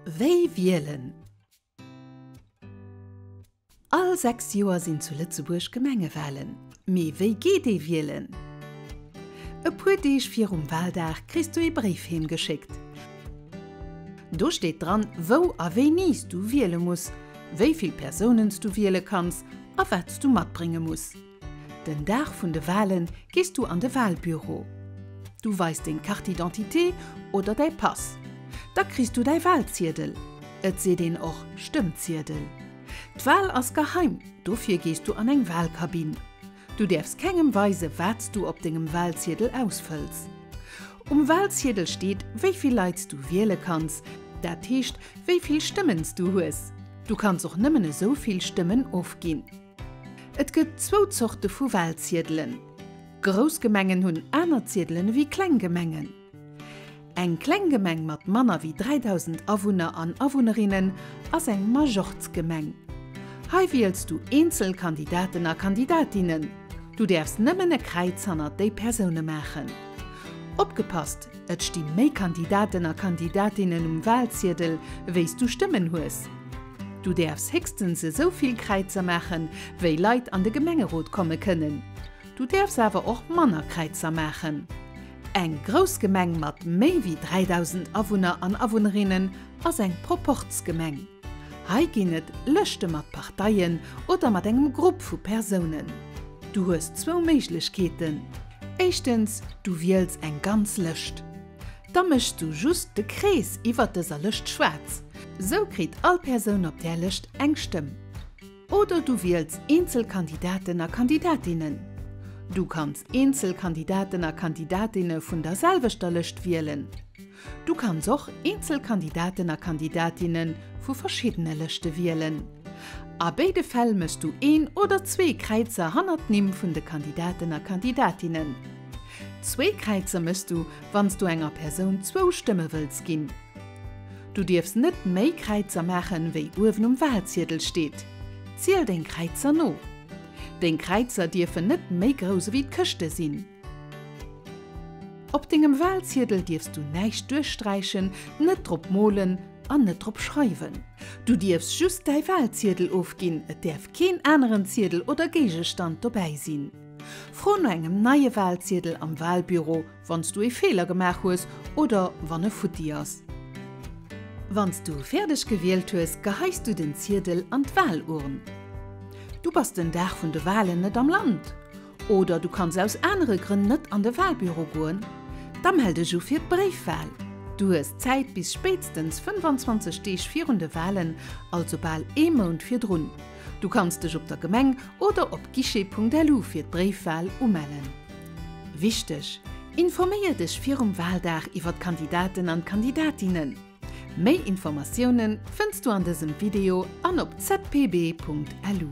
Wéi wielen? All 6 Joer sinn zu Lëtzebuerg Gemengewalen. Mee wéi geet ee wielen? E puer Deeg virum Waldag kriss du ee Bréif heem geschéckt. Do steet dran, wou a wéini s du wiele muss, wéi vill Persounen s du wiele kanns a wat s du matbrénge muss. Den Dag vun de Walen gees du an de Walbüro. Du weis deng Carte d'identité oder däi Pass. Da kriss du däi Walziedel. Et seet een och Stëmmziedel. D'Wal ass geheim, dofir gees du an eng Walkabinn. Du däerfs kengem weise wat s du op dengem Walziedel ausfëlls. Um Walziedel steet wéi vill Leit s du wiele kanns, dat heescht wéi vill Stëmmen s du hues. Du kanns och nëmmen esou vill Stëmmen ofginn. Et gëtt zwou Zorte vu Walziedelen. Grouss Gemengen hunn aner Ziedelen ewéi kleng Gemengen. Eng kleng Gemeng mat manner ewéi 3.000 Awunner an Awunnerinnen ass eng Majorzgemeng. Hei wiels du eenzel Kandidaten a Kandidatinnen. Du däerfs nëmmen e Kräiz hannert déi Persoune maachen. Opgepasst, et sti méi Kandidaten a Kandidatinnen um Walziedel, wéi s du Stëmmen hues. Du däerfs héchstens esou vill Kräizer maachen, wéi Leit an de Gemengerot komme kënnen. Du däerfs awer och manner Kräizer maachen. Eng grouss Gemeng mat méi wéi 3.000 Awunner an Awunnerinnen ass eng Proporz-Gemeng. Hei ginn et Lëschte mat Parteien oder mat engem Grupp vu Persounen. Du hues zwou Méiglechkeeten, Éischtens, du wiels eng ganz Lëscht. Da méchs du just de Krees iwwert dëser Lëscht schwaarz. Sou kritt all Persoun op där Lëscht eng Stëmm. Oder du wiels eenzel Kandidaten a Kandidatinnen. Du kanns eenzel Kandidaten a Kandidatinne vun der selwechter Lëscht wielen. Du kanns och eenzel Kandidaten a Kandidatinne vu verschiddene Lëschte wielen. A béide Fäll méchs du een oder zwee Kräizer hannert d'Nimm vun de Kandidaten a Kandidatinnen. Zwee Kräizer méchs du, wann s du enger Persoun zwou Stëmme wëlls ginn. Du dierfs net méi Kräizer maachen, wéi uewen um Walziedel steet. Ziel deng Kräizer no. Deng Kräizer dierfen net méi grouss ewéi d'Këschte sinn. Op dengem Walziedel dierfs du näischt duerchsträichen, net drop molen an net drop schreiwen. Du dierfs just däi Walziedel ofginn, et däerf keen aneren Ziedel oder Géigestand dobäi sinn. Fro no engem neie Walziedel am Walbüro, wann s du ee Feeler gemaach hues oder wann e futti ass. Wann s du fäerdeg gewielt hues, geheis du den Ziedel an d'Walurn. Du bass den Dag vun de Walen net am Land oder du kanns aus anere Grënn net an de Walbüro goen? Da mell dech u fir d'Bréifwal. Du hues Zäit bis spéitstens 25 Deeg virun de Walen, also bal ee Mount virdrun. Du kanns dech op der Gemeng oder op guichet.lu fir d'Bréifwal umellen. Wichteg, Informéier dech virum Waldag iwwer d'Kandidaten an d'Kandidatinnen. Méi Informatiounen fënns du an dësem Video an op zpb.lu.